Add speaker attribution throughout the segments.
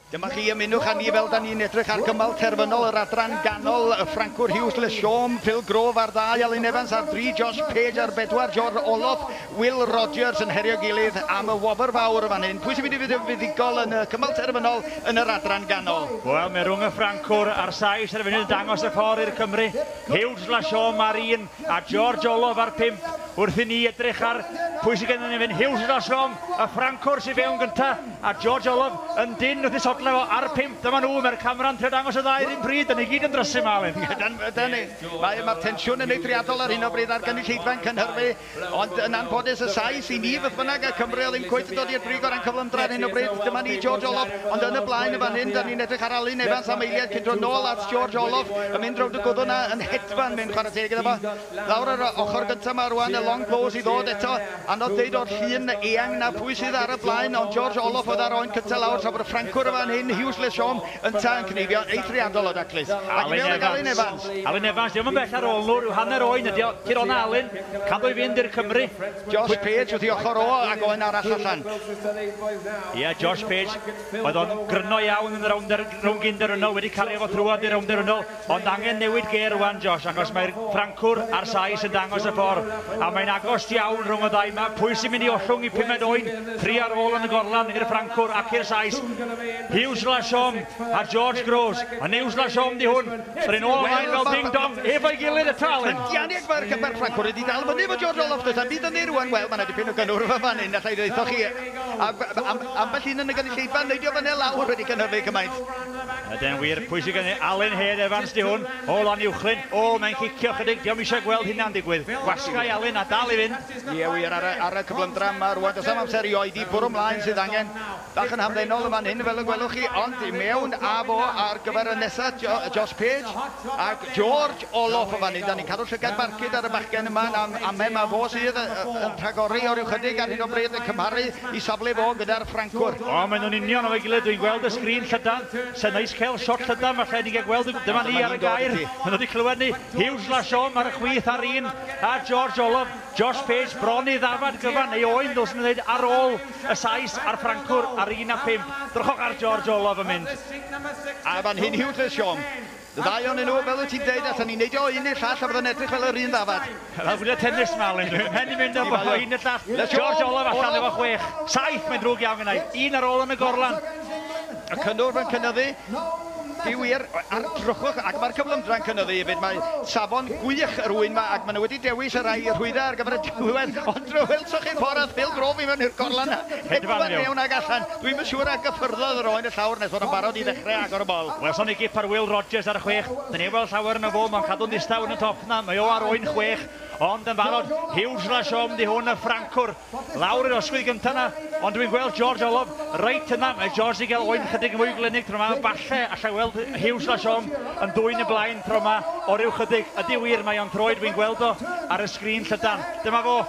Speaker 1: Dyma chi ymunwch â ni fel da ni'n edrych ar gymal terfynol yr adran ganol y Ffrancwr Hughes Le Siom, Phil Grove ar ddau, Alun Evans ar dri, Josh Page ar bedwar, George Oloff, Will Rogers yn herio gilydd am y wobr fawr y fan hyn. Pwy sy'n mynd i fod yn fuddugol yn y cymal terfynol yn yr adran ganol? Wel, mae rhwng y
Speaker 2: Ffrancwr a'r Sais ar y funud yn dangos y ffordd i'r Cymru. Hughes Le Siom ar un, a George Olof ar 5 wrth i ni edrych ar pwy sydd gennym ni fan hyn. Hughes yn dal siom, y Ffrancwr sydd fewn gyntaf, a George Olof yn dyn wrth i sodlau fo ar 5. Dyma nhw, mae'r camera'n trio dangos y ddau run pryd, dan ni gyd yn drysu yma, Aled. Ydan, ydan ni. Mae,
Speaker 1: mae'r tensiwn yn eithriadol ar hyn o bryd ar gynulleidfa yn Cynhyrfu, ond yn anffodus y Sais i ni beth bynnag, a Cymru o ddim cweit yn dod i'r brig o ran cyflymdra ar hyn o bryd. Dyma ni, George Olof, ond yn y blaen yn fan hyn, dan ni'n edrych ar Alun Evans am eiliad cyn dod nôl at George Olof yn mynd rownd y gwddw 'na yn Steffan, mae'n chwarae teg iddo fo. Lawr ar y ochr gynta 'ma rwan, y long blows i ddod eto. Anodd deud o'r llun eang 'na pwy sydd ar y blaen, ond George Oloff oedd â'r oen cynta lawr tra bod y Ffrancwr yn fan hyn, Huws Le Chom, ynta, yn cneifio'n eithriadol o daclus. Ac i mewn ag Alun Evans. Alun Evans, dio'm yn bell
Speaker 2: ar ôl nhw, rhyw hanner oen ydi o. Tir ona Alun, cadw i fynd i'r Cymry. Josh Page
Speaker 1: wrth i ochr o, ac oen arall allan.
Speaker 2: Ia, Josh Page, oedd o'n gryno iawn yn y rownd gyndyrynol, wedi cario fo thrwad i'r rownd derynol. Ond angen newid gêr rwan Josh achos mae'r Ffrancwr a'r Sais yn dangos y ffor a mae'n agost iawn rhwng y ddau ma, pwy sy'n mynd i ollwng i pumed oen tri ar ôl yn y gorlan i'r Ffrancwr ac i'r Sais? Huws Lachaume a George Groves, yn Huws Lachaume di hwn, yr un ôl ymlaen fel ding dong efo'i gilydd y talyn! Yannick Vercamp a'r
Speaker 1: Ffrancwr wedi dal fyny efo George Olaf does na'm byd ynddi rwan, wel ma' 'na dipyn o gynnwrf yn fan 'yn allai ddeutho chi, a- am- ambell un yn y gynulleidfa yn neidio fyny a lawr wedi cynhyrfu cymaint. Yden wir,
Speaker 2: pwysig yn ei Alun Hen Evans di hwn, o lan uwchlyn, o mae'n cicio chydig, diom eisiau gweld hynna'n digwydd, gwasgai Alun a dal i fynd. Ie wir, ar y, ar y
Speaker 1: cyflymdra yma rwan, does am amser i oedi, bwrw mlaen sydd angen, bach yn hamddenol yn fan hyn fel y gwelwch chi, ond i mewn a fo ar gyfer y nesa, Josh Page ac George. Stop! Olaf, o fan 'yn, 'dan ni'n cadw llygaid barcud ar y bachgen yma, na ame, mae fo sydd yn rhagori o ryw chydig ar hyn o bryd yn cymharu 'i safle fo gyda'r Ffrancwr. O, maen nhw'n union efo'i
Speaker 2: gilydd, dwi'n gweld y sgrin llydan, 'se neis cael shot llydan, falle i ni gael gweld y gw-. Dyma ni ar y gair, maen nhw 'di clywed ni, Huws Larsson ar y chwith ar un, a George Olaf, Josh Page bron i ddafad gyfan, neu oen ddylswn i ddeud, ar ôl y Sais a'r Ffrancwr ar un a phump. Drychwch ar George Olaf yn mynd. A fan
Speaker 1: hyn Huws Larsson, Y ddau ohonyn nhw, fel wyt ti'n dweud, allen ni neidio o un i'r llall a byddai'n edrych fel yr un ddafad. Fel gwylio tennis
Speaker 2: yma, Alun. Dwi fy mhen i'n mynd o un i un i'r llall. George Olaf allan efo chwech. Saith! Mae'n ddrwg iawn gennai. Un ar ôl yn y gorlan. Y cynnwrf
Speaker 1: yn cynyddu. Di wir, a'r drwchwch, ac mae'r cyflymdra'n cynyddu hefyd. Mae safon gwych yr ŵyn yma, ac maen nhw wedi dewis y rhai rhwyddau ar gyfer y diwedd, ond welsoch chi'r ffordd aeth Phil Groves i mewn i'r gorlan 'na? Hedfan yn iawn. Hedfan yn iawn ac allan. Dwi'm yn siŵr a gyffyrddodd yr oen y llawr nes fod o'n barod i ddechre agor y bol. Welsom ni gip ar Will
Speaker 2: Rogers ar y chwech. Dyn ni 'eb weld llawer yno fo, mo'n cadw'n ddistaw yn y top 'na. Mae o ar oen chwech, ond yn barod. Huge la siom 'di hwn y Ffrancwr. Lawr i'r osgwydd gynta 'na, ond dwi'n gweld George Olof reit yna. Mae George 'di ga'l oen chydig yn fwy glynig tro 'ma. Falle allai weld Huge la siom yn dwyn yn blaen tro 'ma o ryw chydig. Ydi wir, mae o'n troed, wi'n gweld o ar y sgrin llydan. Dyma fo.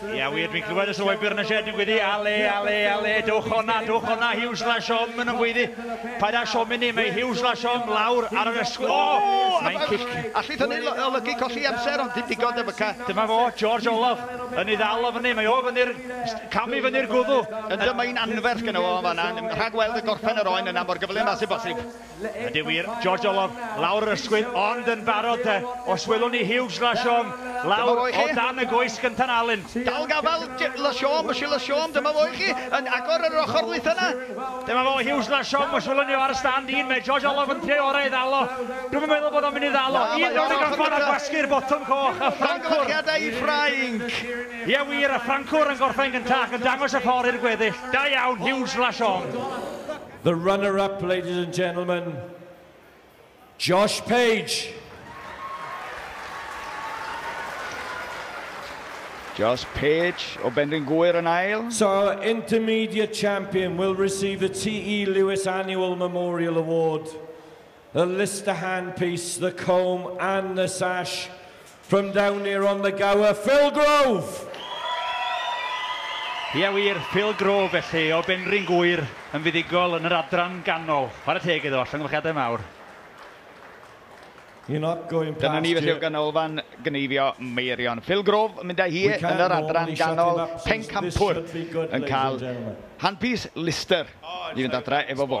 Speaker 1: Ia wir, dwi'n clywed y
Speaker 2: sylwebr yn y sied yn gwyddu, ale, ale, ale, dwch o'na, dwch o'na, Huw Slash Om yn ymgwyddu. Paid â siomi ni, mae Huw Slash Om lawr ar yr ysgwydd. O! Mae'n cic. Allith hynny olygu
Speaker 1: colli amser, ond dim digon, Dyfyca. Dyma fo, George
Speaker 2: Olaf, yn ei ddal o fyny, mae o fyny'r, cam i fyny'r gwddw. Yndw, mae hi'n anferth
Speaker 1: gynno fo yn fan'na, rhag weld y gorffen yr oen yna mor gyflym â sy'n bosib. Ydy wir,
Speaker 2: George Olaf, lawr yr ysgwydd, ond yn barod te, os welwn ni Hugues Lachaumb lawr o dan y goes gynta'n Alun. Dal gafael,
Speaker 1: Lachaumb, Monsieur Lachaumb, dyma fo i chi, yn agor ar yr ochr ddwytha 'na. Dyma fo, Hugues
Speaker 2: Lachaumb, os welwn ni o ar y stand un, mae George Olaf yn trio'i orau i ddal o, dwi'm yn meddwl bod o'n mynd i ddal o, un rownd y gorffan a gwasgu'r botwm coch, a Ffrancwr... Llongyfarchiadau i Ffrainc!
Speaker 1: Ie wir, y
Speaker 2: Ffrancwr yn gorffen gynta ac yn dangos y ffordd i'r gweddill. Da iawn, Hugues Lachaumb. The runner
Speaker 3: up, ladies and gentlemen, Josh Page.
Speaker 1: Josh Page o Benrhyn Gŵyr yn ail. So our
Speaker 3: intermediate champion will receive the TE Lewis Annual Memorial Award The list the hand piece, the comb and the sash from down here on the gower, Phil Grove!
Speaker 2: Ia wir, Phil Grove felly, o Benrhyn Gŵyr, yn fuddugol yn yr adran ganol. Chwarae teg iddo, llongyfarchiadau mawr.
Speaker 3: You're not going past Dyna ni felly o ganolfan
Speaker 1: gneifio Meirion. Phil Grove yn mynd â hi yn yr adran ganol, Pencampwr yn cael handpiece Lister i fynd adra efo fo.